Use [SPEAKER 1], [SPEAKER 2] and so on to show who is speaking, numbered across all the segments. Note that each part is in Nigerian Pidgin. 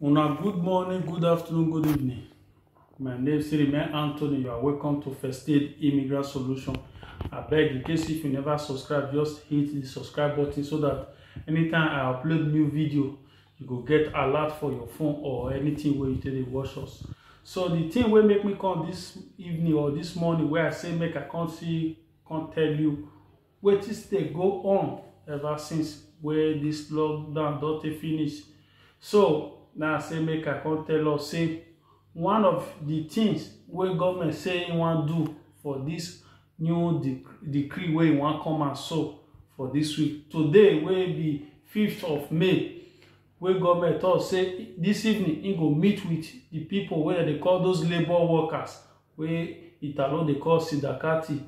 [SPEAKER 1] Una good morning, good afternoon, good evening. My name is Remain Anthony. You are welcome to First Aid Immigrant Solution. I beg, in case if you never subscribe, just hit the subscribe button so that anytime I upload new video, you go get alert for your phone or anything where you take dey watch us. So the thing wey make me come this evening or this morning wey I say make I come see come tell you wetin stay go on ever since wey this lockdown don take finish so na say make i come tell us say one of the things wey government say e wan do for this new dec decree wey e wan come out so for this week today wey be 5th of may wey government talk say this evening he go meet with the people wey dem dey call those labour workers wey italo dey call sindakati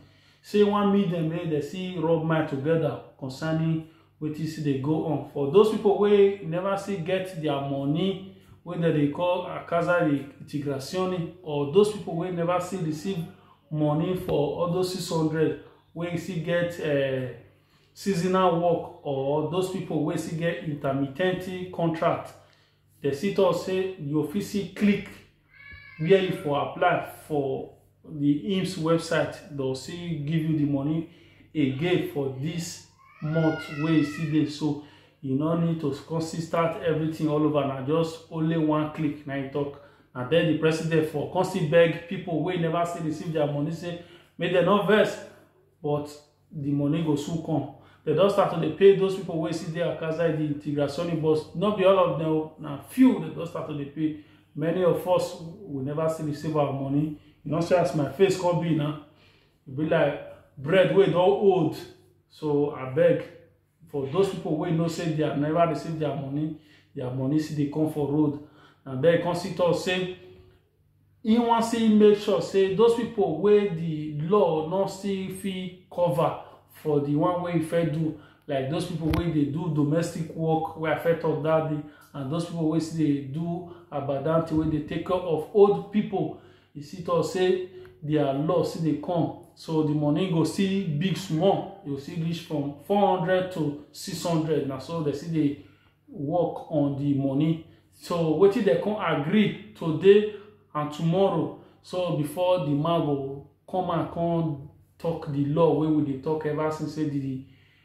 [SPEAKER 1] say he wan meet them make dem see rub mind together concerning wetin still dey go on for those people wey never see get their money wey dem dey call akaza integrazione or those people wey never see receive money for all those six hundred wey still get uh, seasonal work or those people wey still get intermittent contract dem still talk say you fit see click where you for apply for the IMSS website they'll see give you the money again for this month where you see there so you no need to come still start everything all over na just only one click na you talk and then the president for come still beg people wey never still receive their money say make dem no vex but the money go soon come dem don start to dey pay those people wey still dey outside the integrationi bus no be all of them o na few dem don start to dey pay many of us we never still receive our money you know see as my face come be now e be like bread wey don old so abeg for those people wey know say they have never received their money their money still dey come for road and then come see talk say he wan still make sure say those people wey the law no still fit cover for the one wey he fit do like those people wey dey do domestic work wey i fit talk that day and those people wey still dey do abadanti wey dey take care of old people e still talk say their loss still dey come so the money go still big small e go still reach from four hundred to six hundred na so dem still dey work on the money so wetin dem come agree today and tomorrow so before the man go come and come talk the law wey we dey talk ever since say the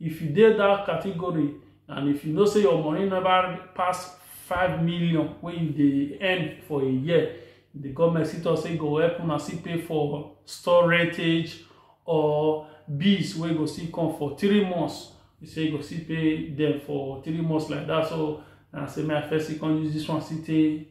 [SPEAKER 1] If you dey that category and if you know say your money never pass five million wey you dey earn for a year, the government still talk say e go help una still pay for store rentage or bills wey go still come for three months. E say e go still pay them for three months like that. So na say make I first still come use this one still take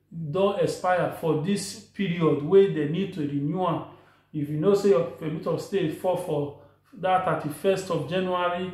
[SPEAKER 1] don expire for dis period wey dem need to renew am if you know say your permit of stay fall for that thirty first of january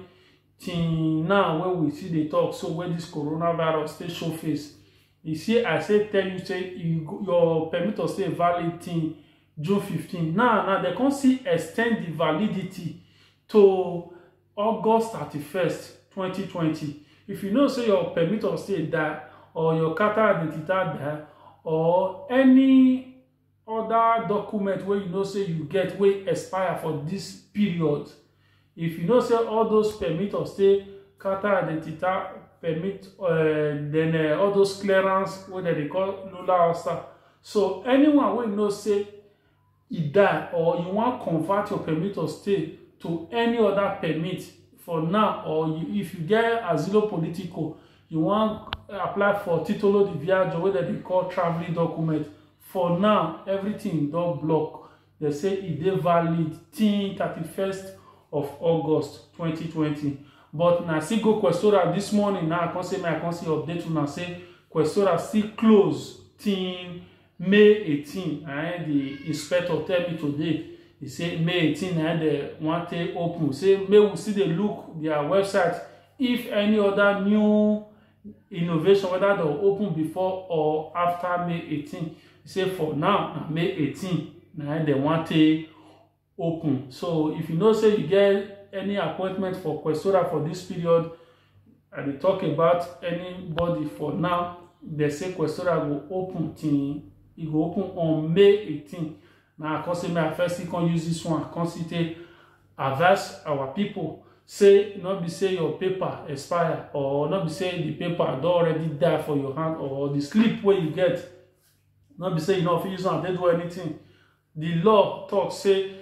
[SPEAKER 1] till now wey we still dey talk so wey this coronavirus still show face you see i say tell you say you, your permit of stay valid till june fifteen now now dem come still extend the validity to August thirty first, twenty twenty. If you know say your permit of stay die or your carta identità die or any other document wey you know say you get wey expire for this period, if you know say all those permit of stay, carta identità, permit um then um all those clearance wey dem dey call Lula Osta. So anyone wey know say e die or you wan convert your permit of stay to any other permit for now or you, if you get asilo politico you wan apply for titolo di viaggio wey dem dey call travelling document for now everything don block dem say e dey valid till thirty first of august twenty twenty but na still go questora this morning now i come say make i come see update una say questora still close till may 18 na im the inspector tell me today he say may 18 na im they wan take open say may we still dey look their website if any other new innovation whether they open before or after may 18 he say for now na may 18 na im they wan take open so if you know say you get any appointment for questora for this period i dey talk about anybody for now they say questora go open till e go open on may 18 na i come say may i first still come use this one come still take advise our people say no be say your paper expire or no be say the paper don already die for your hand or the sleep wey you get no be say you no fit use am take do anything Di law tok say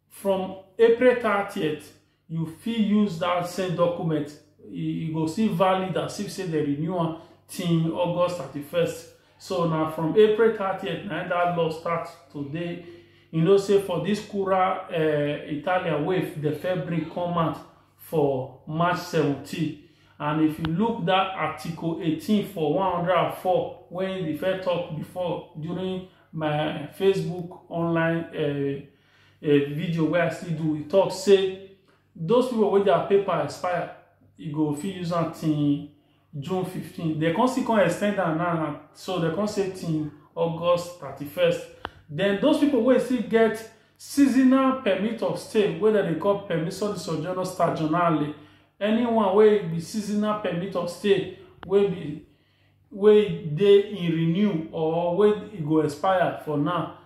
[SPEAKER 1] from April thirtieth, you fit use dat same document, e go still valid as if say dem renew am till August thirty first. So na from April thirtieth na im dat law start to dey. You know say for dis Kura um Italian wey dem first bring come out, for March 17. And if you look that Article 18 for 104, when the first talk before during my Facebook online uh, uh, video where I still do, we talk say those people with their paper expire, you go fit use something June 15. Dem come still come extend am now now. So dem come say till August 31st. Then those people wey still get seasonal permit of stay wey dem dey call permiso di sojourno stagionale anyone wey be seasonal permit of stay wey be wey dey in renew or wey e go expire for now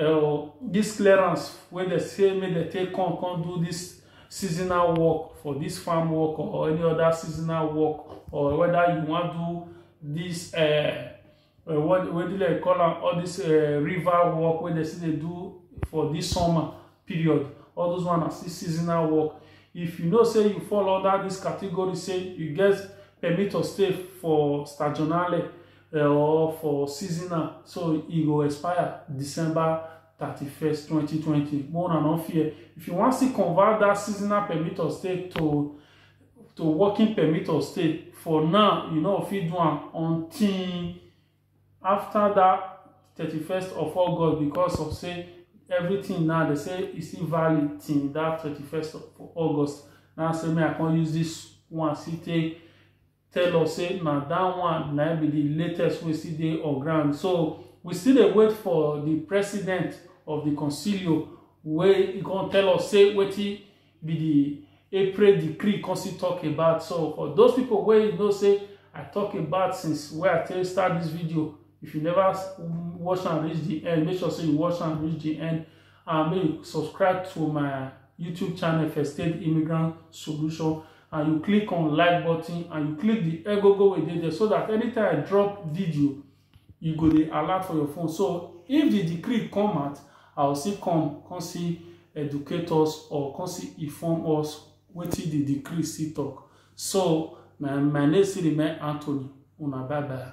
[SPEAKER 1] uh, this clearance wey dey say make dem take come come do this seasonal work for this farm work or any other seasonal work or whether you wan do this uh, uh, what what do they call am all this uh, river work wey dem still dey do for this summer period all those one na still seasonal work if you know say you fall under this category say you get permit to stay for stagionale eh, or for seasonal so e go expire december 31st 2020 more than no fear if you want to convert that seasonal permit or stay to to working permit or stay for now you know if you do am until after that 31st of august because of say everything now they say e still valid till that 31st of august now say me i can't use this one still take tell us say na that one na be the latest wey still dey on ground so we still dey wait for the president of the concilio wey e come tell us say wetin be the april decree come still talk about so for those people wey you know say i talk about since wey i take start this video if you never watch am reach the end make sure say you watch am reach the end and make you subscribe to my YouTube channel for State Immigrant Solution and you click on like button and you click the agogo wey dey there so that anytime I drop video you go dey alert for your phone so if the decree come out I will still come come see educate us or come see inform us wetin the decree still talk so my my name still remain Anthony una bye bye.